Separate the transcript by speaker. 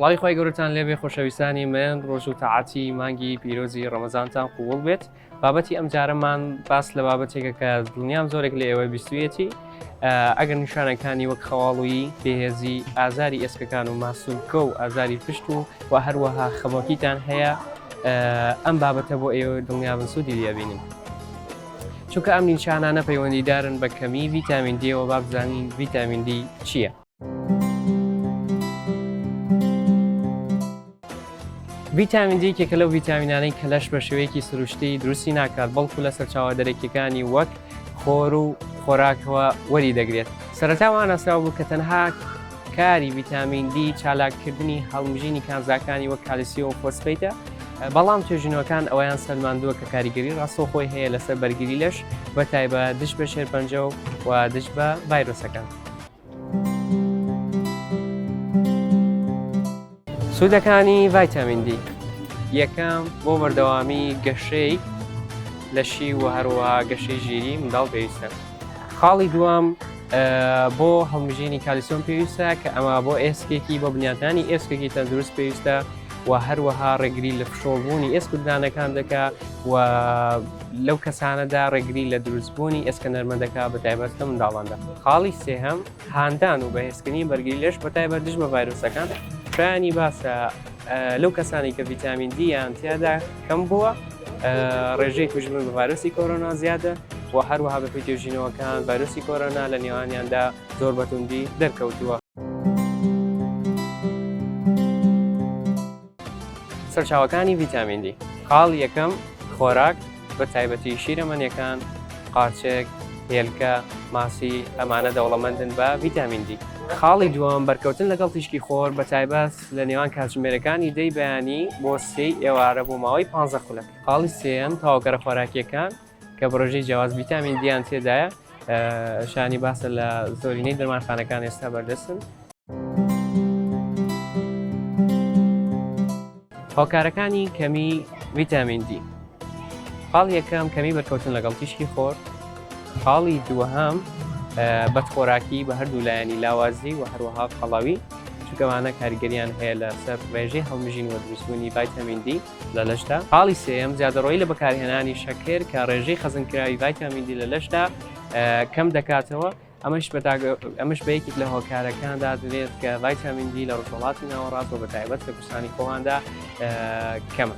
Speaker 1: سڵاوی خوای گەورەتان لێبێ خۆشەویستانی من ڕۆژ و تاعەتی مانگی پیرۆزی ڕەمەزانتان قووڵ بێت بابەتی ئەم جارەمان باس لە بابەتێکە کە دڵنیام زۆرێک لە ئێوەی بیستویەتی ئەگەر نیشانەکانی وەک خەواڵویی بێهێزی ئازاری ئێسکەکان و ماسولکە و ئازاری پشت و و هەروەها خەمۆکیتان هەیە ئەم بابەتە بۆ ئێوە دڵنیابن سوودی لێبینن. چونکە ئەم نیشانانە پەیوەندیدارن بە کەمی ڤیتامین دیەوە بابزانین ڤیتامین دی چییە؟ ڤیتامین دی یەکێکە لەو ڤیتامینانەی کە لەش بە شێوەیەکی سروشتی دروستی ناکات بەڵکو لە سەرچاوە دەرەکیەکانی وەک خۆر و خۆراکەوە وەری دەگرێت سەرتاوان ئاسراو بوو کە تەنها کاری ڤیتامین دی چالاککردنی هەڵمژینی کانزاکانی وەک کالیسی و فۆسفیتە بەڵام توێژینەوەکان ئەویان سەلماندووە کە کاریگەری ڕاستۆ خۆی هەیە لەسەر بەرگری لەش بە تایبە دش بە شێرپەنجە و و دش بە ڤایرۆسەکان. سوودەکانی ڤایتامین دی یەکەم بۆ بەردەوامی گەشەی لەشی و هەروە گەشەی ژیری منداڵ پێویستە خاڵی دوام بۆ هەڵمژینی کالیسۆن پێویستە کە ئەمە بۆ ئێسکێکی بۆ بنیاتانی ئێسکێکی تەندروست پێویستە و هەروەها ڕێگری لە فشۆبوونی ئێسکدانەکان دەکە و لەو کەسانەدا ڕێگری لە دروستبوونی ئێسکە نەرمە دەکات بە تایبەت لە منداڵاندا خاڵی سێهەم هاندان و بەهێزکردنی بەرگری لەش بە تایبەت دژ بە ڤایرۆسەکان شایانی باسە لەو کەسانی کە ڤیتامین دییان تیادا کەم بووە ڕێژەی کوژبوون بە ڤایرۆسی کۆرۆنا زیادە و هەروەها بە پێتێژینەوەکان ڤایرۆسی کۆرۆنا لە نێوانیاندا زۆر بەتوندی دەرکەوتووە. سەرچاوەکانی ڤیتامین دی خاڵ یەکەم خۆراک بە تایبەتی شیرەمەنیەکان قارچێک هێلکە ماسی ئەمانە دەوڵەمەندن بە ڤیتامین دی خاڵی دووەم بەرکەوتن لەگەڵ تیشکی خۆر بە تایبەت لە نێوان کاتژمێرەکانی دەی بەیانی بۆ سێی ئێوارە بۆ ماوەی پ خولەک خاڵی سێەن تاوگەرە خۆراکیەکان کە بڕژەی جیاواز ڤیتامین دیان تێدایە شانی باسە لە زۆرینەی دەرمانخانەکان ئێستا بەردەستن هۆکارەکانی کەمی ڤیتامین دی خاڵ یەکەم کەمی بەرکەوتن لەگەڵ تیشکی خۆر خاڵی دووەهام بەدخۆراکی بە هەردوو لایەنی لاوازی و هەروەها خەڵاوی چکەوانە کاریگەریان هەیە لەسەر ڕێژەی هەڵمژین وە دروستبوونی ڤایتەمین دی لە لەشدا. خاڵی سێیەم، زیادەڕۆیی لە بەکارهێنانی شەکر کە ڕێژەی خەزنکراوی ڤایتامین دی لە لەشدا کەم دەکاتەوە، ئەمەش ئەمەش بە یەکێک لە هۆکارەکان دادرێت کە ڤایتامین دی لە ڕۆژهەڵاتی ناوەڕاست و بە تایبەت لە کوردستانی خۆماندا کەمە.